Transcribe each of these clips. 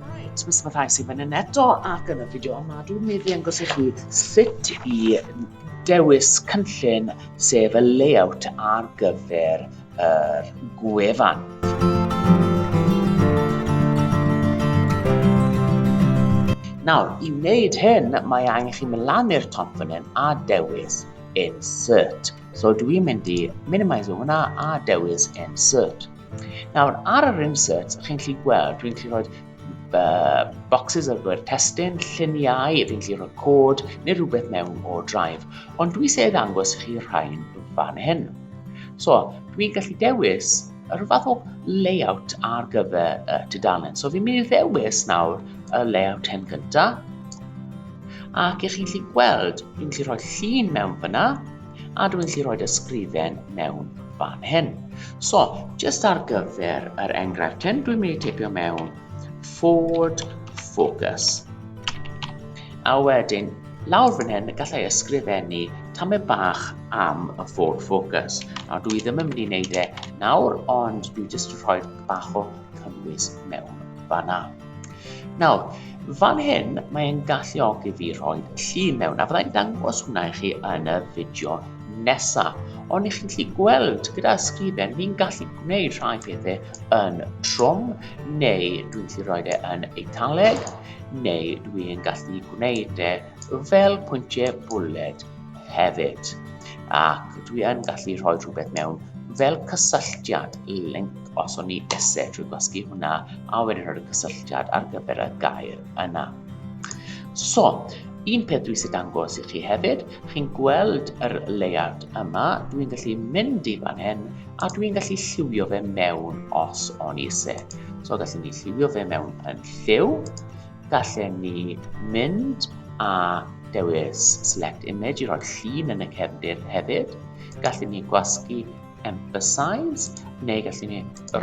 Right, mis mae rhai sy'n fan hyn eto ac yn y fideo yma dwi'n mynd i angos i chi sut i dewis cynllun sef y layout ar gyfer yr gwefan. Nawr, i wneud hyn, mae angen chi mynd lan i'r top fan hyn a dewis Insert. So dwi'n mynd i minimise hwnna a dewis Insert. Nawr, ar yr insert, chi'n gallu gweld, dwi'n gallu rhoi uh, boxes ar gyfer testyn, lluniau, dwi'n gallu rhoi cod neu rhywbeth mewn o drive. Ond dwi eisiau ddangos chi rhain fan hyn. So, dwi'n gallu dewis yr fath o layout ar gyfer y uh, tudalen. So, fi'n mynd i ddewis nawr y layout hyn gyntaf. Ac ych chi'n gallu gweld, dwi'n gallu rhoi llun mewn fyna, a dwi'n gallu rhoi ysgrifen mewn fan hyn. So, just ar gyfer yr enghraifft hyn, dwi'n mynd i teipio mewn Ford Focus. A wedyn, lawr fan hyn, gallai ysgrifennu tamau bach am y Ford Focus. A dwi ddim yn mynd i wneud e nawr, ond dwi jyst yn rhoi bach o cynnwys mewn fanna. Nawr, fan hyn mae e'n galluogi fi rhoi llun mewn, a fyddai'n dangos hwnna i chi yn y fideo nesa. Ond i chi'n gallu gweld gyda ysgrifen, fi'n gallu gwneud rhai pethau yn trwm, neu dwi'n gallu rhoi e yn eitaledd, neu dwi'n gallu gwneud e fel pwyntiau bwled hefyd ac dwi yn gallu rhoi rhywbeth mewn fel cysylltiad link os o'n i isie trwy gwasgu hwnna a wedyn rhoi cysylltiad ar gyfer y gair yna. So, un peth dwi eisiau dangos i chi hefyd, chi'n gweld yr layout yma, dwi'n gallu mynd i fan hyn a dwi'n gallu lliwio fe mewn os o'n i eisiau. So gallwn ni lliwio fe mewn yn lliw, Gallen ni mynd a dewis select image i roi llun yn y cefndir hefyd. Gallen ni gwasgu emphasize neu gallen ni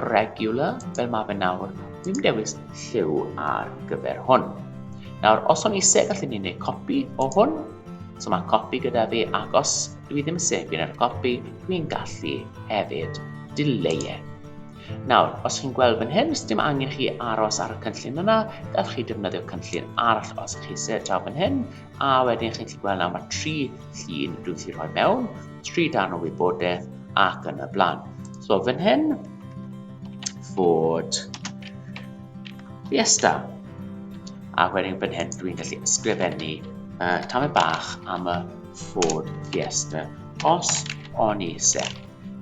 regular fel mae fe nawr. Dwi'n dewis lliw ar gyfer hwn. Nawr, os o'n i se, gallen ni wneud copi o hwn. So mae copi gyda fi, ac os dwi ddim yn sefio yn yr copi, dwi'n gallu hefyd dileu e. Nawr, os chi'n gweld fan hyn, sdim angen chi aros ar y cynllun yna, gallwch chi defnyddio cynllun arall os chi eisiau draw fan hyn, a wedyn chi'n gallu gweld nawr mae tri llun dwi'n gallu rhoi mewn, tri darn o wybodaeth ac yn y blaen. So fan hyn, fod Fiesta. A wedyn fan hyn dwi'n gallu ysgrifennu uh, tamau bach am y Ford Fiesta os o'n i eisiau.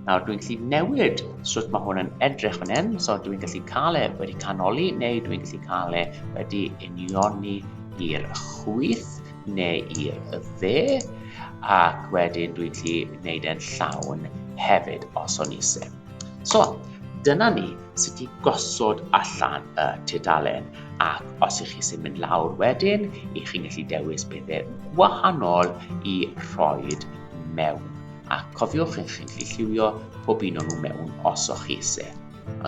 Nawr dwi'n gallu newid sut mae hwn yn edrych fan hyn, so dwi'n gallu cael e wedi canoli neu dwi'n gallu cael e wedi unioni i'r chwyth neu i'r dde ac wedyn dwi'n gallu gwneud e'n llawn hefyd os o'n eisiau. So, dyna ni sut i gosod allan y tudalen ac os ych chi sy'n mynd lawr wedyn, ych chi'n gallu dewis bethau gwahanol i rhoi mewn. a cofiwch eich chi'n gallu lliwio pob un o'n nhw mewn os o'ch chi eisiau.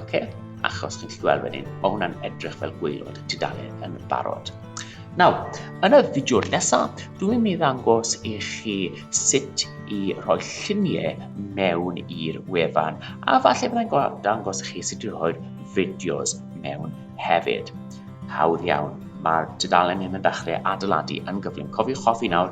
Ok, achos chi'n gallu gweld wedyn, mae hwnna'n edrych fel gweilod y tudalen yn barod. Nawr, yn y fideo'r nesaf, dwi'n mynd i ddangos i chi sut i rhoi lluniau mewn i'r wefan, a falle byddai'n dangos i chi sut i rhoi'r fideos mewn hefyd. Hawdd iawn, mae'r tudalen hyn yn dechrau adeiladu yn gyflym. Cofiwch hoffi nawr,